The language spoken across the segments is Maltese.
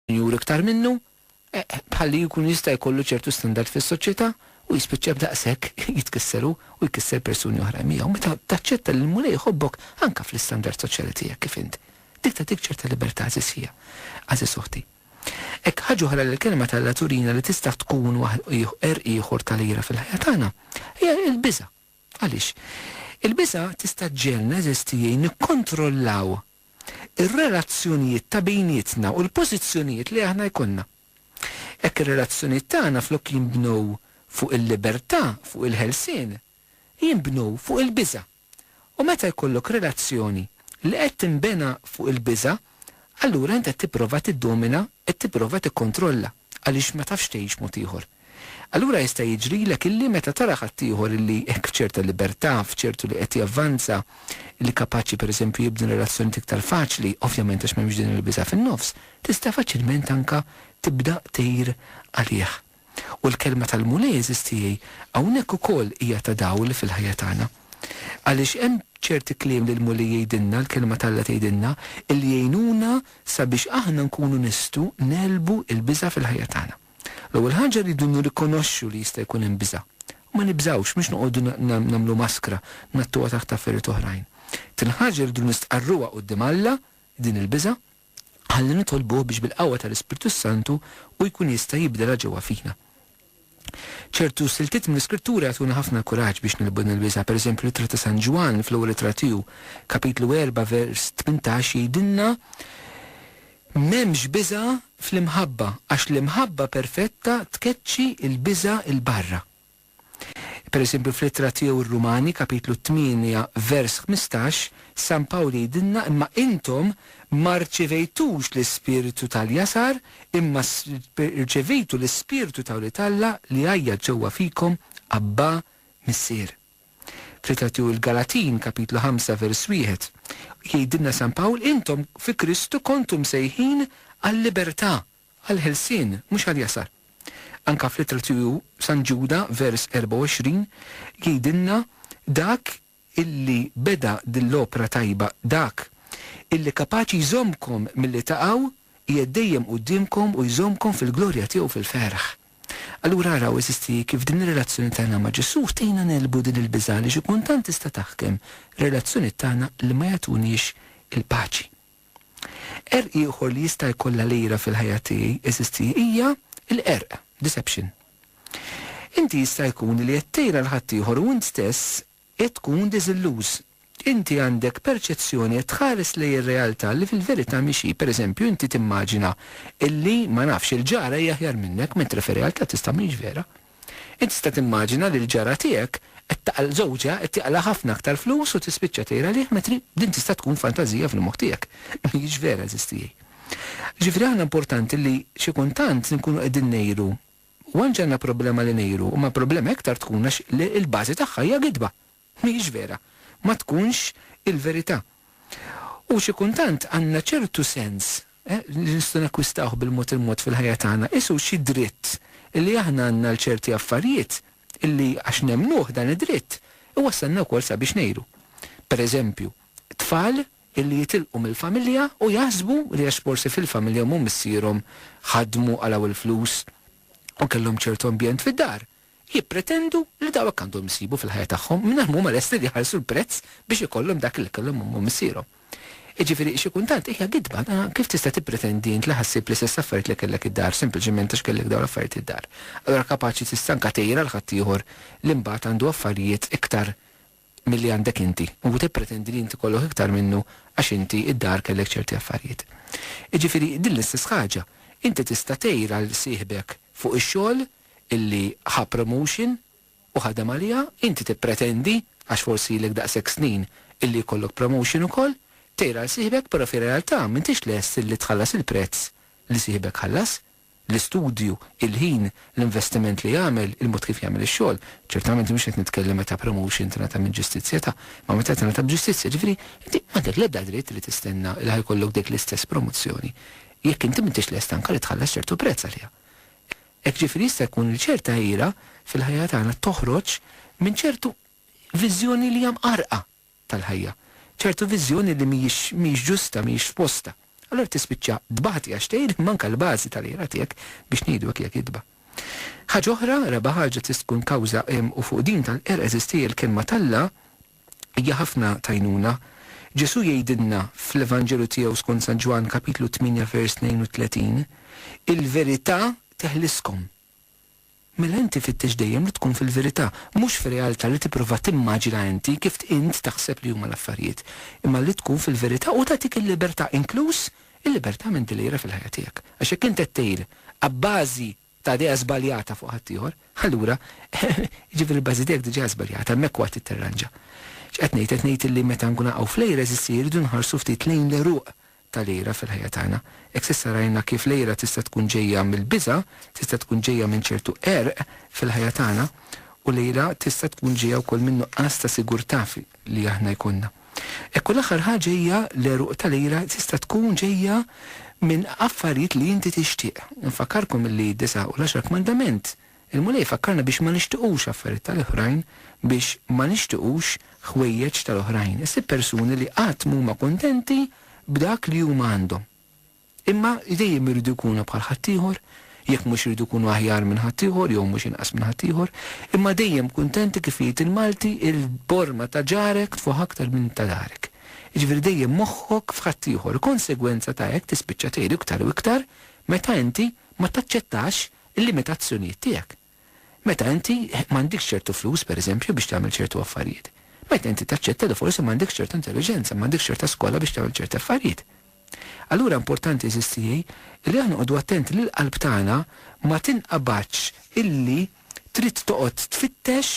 Juri iktar minnu, bħal li jkun jista' jkollu ċertu standard fis-soċjetà u jispiċċa b'daqshekk jitkisser hu u jkisser persuni oħrajn miegħu. Meta taċċetta li l-Mulej iħobbok anke fl-istandard soċjali tiegħek kif int, dik tagħtik ċerta libertà għażiż fija, għażiż uħti. Hekk ħaġa oħra li l-Kelma t'Alla turina li tista' tkun għerq ieħor tal-għira fil-ħajja tagħna hija l-biża'. Għaliex? Il-biża' tista' ġġegħelna, għeżież tiegħi, nikkontrollaw ir-relazzjonijiet ta' bejnietna u l-pożizzjonijiet li aħna jkollna. Hekk ir-relazzjonijiet tagħna flok jinbnew fuq il-libertà, fuq il-ħelsien, jinbnu fuq il-biża'. U meta jkollok relazzjoni li qed tinbena fuq il-biża', allura int qed tipprova tiddomina, qed tipprova tikkontrolla. għaliex ma tafx tgħix mod ieħor. Allura jista' jiġrilek illi meta tara ħaddieħor illi hekk f'ċerta libertà, f'ċertu li qed javvanza, illi kapaċi pereżempju jibni relazzjonijiet iktar faċli, ovvjament għax m'hemmx din il-biża' fin-nofs, tista' faċilment anke tibda tgħir għalih. U l-kelma tal-Mulej, għeżież tiegħi, hawnhekk ukoll hija ta' dawl fil-ħajja tagħna. Għaliex hemm ċerti kliem li l-Mulej jgħidilna, l-Kelma t'Alla tgħidilna, illi jgħinuna sabiex aħna nkunu nistgħu negħlbu l-biża' fil-ħajja tagħna. L-ewwel ħaġa rridu nirrikonoxxu li jista' jkun hemm biża'. U ma nibżgħux, mhux noqogħdu nagħmlu maskra, ngħattuha taħt affarijiet oħrajn. It-tieni ħaġa rridu nistqarruha quddiem Alla, din il-biża'. Ħalli nitolbuh biex bil-qawwa tal-Ispirtu s-Santu hu jkun jista' jibdilha ġewwa fina. Ċertu siltiet mill-Iskrittura jagħtuna ħafna kuraġġ biex negħlbu din il-biża'. Pereżempju, l-Ittra ta' San Ġwann, fl-ewwel ittra tiegħu, kapitlu erbgħa vers tmintax, jgħidilna, M'hemmx biża' fl-imħabba, għax l-imħabba perfetta tkeċċi l-biża' 'l barra. Pereżempju, fl-Ittra tiegħu r-Rumani, Kapitlu 8, vers 15, San Pawl jgħidilna, Imma intom ma rċevejtux l-ispirtu tal-jasar, imma rċevejtu l-ispirtu ta' wlied Alla li jgħajjat ġewwa fikom, Abbà, Missier. Fl-Ittra tiegħu l-Galatin, Kapitlu 5, vers 1, jgħidilna San Pawl, Intom fi Kristu kontu msejħin għal-libertà, Għall-ħelsien, mhux għall-jasar. Anke fl-Ittra tiegħu San Ġuda, vers 24, jgħidilna dak illi beda din l-opra tajba, dak illi kapaċi jżommkom milli taqgħu, qiegħed dejjem quddiemkom u jżommkom fil-glorja tiegħu fil-ferħ. Allura araw, għeżiżti, kif din ir-relazzjoni tagħna ma' Ġesù tgħinna negħlbu din il-biża' għaliex ikun tant tista' taħkem relazzjoniet tagħna li ma jagħtuniex il-paċi. Qerq ieħor li jista' jkollha lira fil-ħajja tiegħi, eżisti, hija l-qerq, deception. Inti jista' jkun li qed tgħin għal ħaddieħor u int stess qed tkun diżilluż. Inti għandek perċezzjoni, qed tħares lejn ir-realtà li fil-verità mhix hi. Per eżempju, inti timmaġina illi, ma nafx, il-ġara hi aħjar minnek, mentri fir-realtà tista' mhix vera. Int tista' timmaġina li l-ġara tiegħek qed taqal żewġha qed jaqla' ħafna aktar flus u tispiċċa tgħir għalih mentri din tista' tkun fantażija fil-moħħ tiegħek, ma hijiex vera eżistijie. Ġifieri aħna importanti li xi kuntant nkunu qegħdin ngħiru u anġi għandna problema li ngħiru imma problema iktar tkun għax li l-bażi tagħha hija gidba. Mhijiex vera. Ma tkunx il-verità. U xi kuntant għandna ċertu sens, eh, li nistgħu nakkwistawh bil-mod il-mod fil-ħajja tagħna, qisu xi dritt illi aħna għandna għal ċerti affarijiet illi għax nemmnuh dan id-dritt, iwassalna wkoll sabiex ngħiru. Per eżempju, tfal illi jitilqu mill-familja u jaħsbu li għax forsi fil-familja omm u missierhom ħadmu, qalgħu l-flus u kellhom ċertu ambjent fid-dar, jippretendu li dawk għandhom isibu fil-ħajja tagħhom mingħajr ma huma lesti li jħallsu l-prezz biex ikollhom dak li kellhom ommhom u missierhom. Jiġifieri, xi kultant hija gidba, ta' kif tista' tippretendi int li ħa ssib l-istess affarijiet li kellek id-dar sempliċement għax kellek dawn l-affarijiet id-dar. Allura kapaċi tista' anke tgħir għal ħaddieħor li mbagħad għandu affarijiet iktar milli għandek inti u tippretendi li inti kollok iktar minnu għax inti id-dar kellek ċerti affarijiet. Jiġifieri din l-istess ħaġa, inti tista' tgħir għal sieħbek fuq ix-xogħol illi ħa promotion u ħadem għaliha, inti tippretendi, għax forsi ilek daqshekk snin, illi jkollok promotion ukoll, tgħir għal sieħbek però fir-realtà m'intix lest illi tħallas il-prezz li sieħbek ħallas, l-istudju, il-ħin, l-investiment li jagħmel, il-mod kif jagħmel ix-xogħol. Ċertament mhux qed nitkellem meta promotion tingħata minn ġustizzja ta', imma meta tingħata b'ġustizzja. Ġifieri, inti m'għandek l-ebda dritt li tistenna li ħa jkollok dik l-istess promozzjoni jekk inti m'intix lest anke li tħallas ċertu prezz għaliha. Hekk ġifieri jista' jkun li ċerta għira fil-ħajja tagħna toħroġ minn ċertu viżjoni li hija mqarrqa. tal-ħajja. Ċertu viżjoni li mhijiex mhijiex ġusta, mhijiex f'postha. Allura tispiċċa tbati għax tgħidlek manka l-bażi tal-għira tiegħek biex ngħidu hekk hija gidba. Ħaġa oħra, raba' ħaġa tista' tkun kawża u fuq din tal-qerq għeżież tiegħi l-kelma t'Alla hija ħafna t'għajnuna. Ġesù jgħidilna fl-Evanġelju tiegħu skont San Ġwann kapitlu 8 vers 32, Il-verità teħliskom. Mela inti fittex dejjem li tkun fil-verità, mhux fir-realtà li tipprova timmaġina inti kif int taħseb li huma l-affarijiet, imma li tkun fil-verità u tagħtik il-libertà, inkluż il-libertà minn dil-għira fil-ħajja tiegħek. Għax jekk int qed tgħir abbażi ta' idea żbaljata fuq ħaddieħor, allura jiġifieri l-bażi tiegħek diġà hija żbaljata, hemmhekk huwa trid tirranġa. X'qed ngħid? Qed ngħid illi meta nkunu naqgħu fl-għira, eżisti, irridu nħarsu ftit lejn l-għeruq tal-ira fil-ħajja tagħna. Hekk s'issa rajna kif l-ira tista' tkun ġejja mill-biża', tista' tkun ġejja minn ċertu qerq fil-ħajja tagħna, u l-ira tista' tkun ġejja wkoll min-nuqqas ta' sigurtà li aħna jkollna. Hekk u l-aħħar ħaġa hija l-għeruq tal-ira tista' tkun ġejja minn affarijiet li inti tixtieq. Infakkarkom li d-disgħa u l-għaxar kmandament Il-Mulej ifakkarna biex ma nixtiqux affarijiet tal-oħrajn, biex ma nixtiqux ħwejjeġ tal-oħrajn. Issib persuni li qatt m'huma kuntenti b'dak li huma għandhom. Imma li dejjem iridu jkunu bħal ħaddieħor, jekk mhux iridu jkunu aħjar minn ħaddieħor jew mhux inqas minn ħaddieħor, imma dejjem kuntenti kif jgħid il-Malti, il-borma ta' ġarek tfuħ aktar minn ta' darek. Jiġifieri dejjem moħħok f'ħaddieħor. Konsegwenza ta' hekk tispiċċa tgħid iktar u iktar meta inti ma taċċettax il-limitazzjonijiet tiegħek. Meta inti m'għandikx ċertu flus, pereżempju, biex tagħmel ċertu affarijiet. Meta inti taċċetta li forsi m'għandekx ċertu intelliġenza, m'għandekx ċerta skola biex tagħmel ċerti affarijiet. Allura importanti għeżież tiegħi li aħna noqogħdu attenti li l-qalb tagħna ma tinqabadx illi trid toqgħod tfittex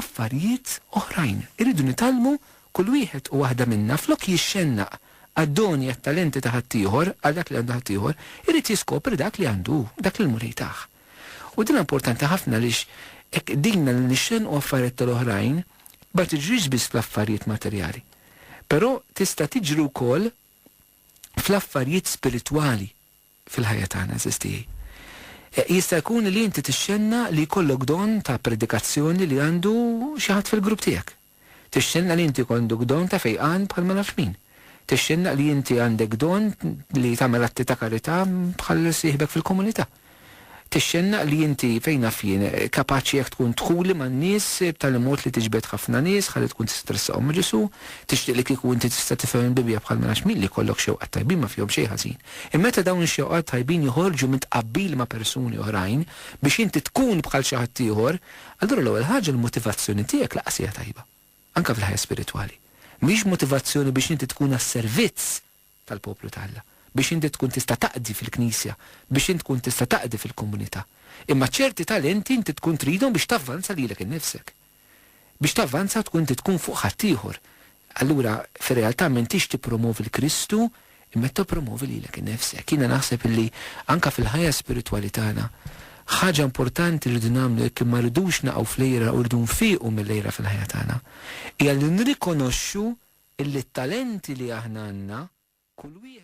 affarijiet oħrajn. Irridu nitgħallmu kull wieħed u waħda minna flok jixxennaq għad-doni, għat-talenti ta' ħaddieħor, għal dak li għandu ħaddieħor, irid jiskopri dak li għandu hu, dak li l-Mulej tah. U din importanti ħafna għaliex hekk qdinna li nixxennqu affarijiet tal-oħrajn ma tiġrix biss fl-affarijiet materjali, però tista' tiġri wkoll fl-affarijiet spiritwali. fil-ħajja tagħna, għażiż tiegħi. Jista' jkun li inti tixxenna li jkollok don ta' predikazzjoni li għandu xi ħadd fil-grupp tiegħek. Tixxenna li inti jkondok don ta' fejqan bħal ma nafx min. Tixxenna li inti għandek don li tagħmel atti ta' karità bħal sieħbek fil-komunità. tixxennaq li inti, fejn naf jien, kapaċi jekk tkun dħuli man-nies b'tali mod li tiġbed ħafna nies ħalli tkun tista' tressaqhom ma' Ġesù. Tixtieq li kieku inti tista' tifhem il-Bibbja bħal ma nafx min li jkollok xewqat tajbin ma fihom xejn ħażin. Imma meta dawn ix-xewqat tajbin joħorġu minn tqabbil ma' persuni oħrajn biex inti tkun bħal xi ħaddieħor, allura l-ewwel ħaġa l-motivazzjoni tiegħek lanqas hija tajba. Anke fil-ħajja spiritwali. Mhix motivazzjoni biex inti tkun għas-servizz tal-poplu ta' Alla, biex inti tkun tista' taqdi fil-Knisja, biex int tkun tista' taqdi fil-komunità. Imma ċerti talenti inti tkun tridhom biex tavvanza lilek innifsek. Biex tavvanza tkun inti tkun fuq ħaddieħor. Allura, fir-realtà m'intix tippromovi 'l Kristu, imma qed tippromovi lilek innifsek. Jiena naħseb illi anke fil-ħajja spiritwali tagħna, ħaġa importanti li rridu nagħmlu jekk ma rridux naqgħu fl-għira u rridu nfiequ mill-għira fil-ħajja tagħna, hija li nirrikonoxxu illi t-talenti li aħna għandna, kull wieħed.